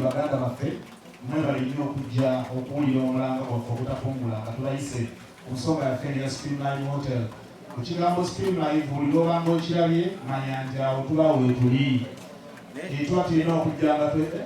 baganda baffe mwebale nnyo okujja okuwulira omulanga gwaffe ogutafungula nga tubayise ku nsonga yaffe eno ya Supreme Live Hotel. Ku kigambo Supreme Live buli lwobanga okirabye manya nti awo tuba weetuli ekitwa tulina okujja nga twe eh?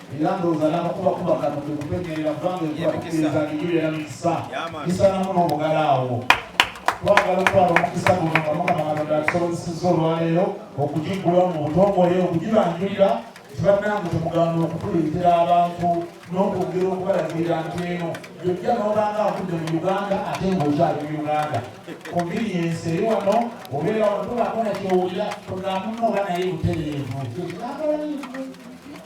era ndowooza n'amakuba kuba kano kwe kutegeerera kubanga ejja kukkiriza ngijubeera mikisa gisaanamu n'omugala awo twagala okutwala omukisa guno nga mukama katonda atusobozesezza olwaleero okugiggulawo mu butongole okugibanjulira tibannange temugaana okutuleetera abantu n'okwogera okubalagirira nti eno gyojja n'obanga akudde mu uganda ate ng'okyali mu uganda kumbiri yensi eri wano obeera wano tobakona kyowulira togamuno oba naye butereevu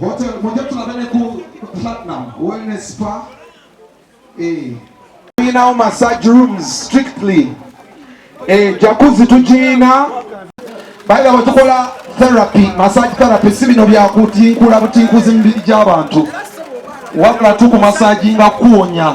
Wote mmoja tunataka ku platinum wellness spa eh now massage rooms strictly eh jacuzzi tujina baada watukola therapy massage therapy si bino bya kutinkula butinkuzi mibiri gy'abantu wabula tuku massage nga kuwonya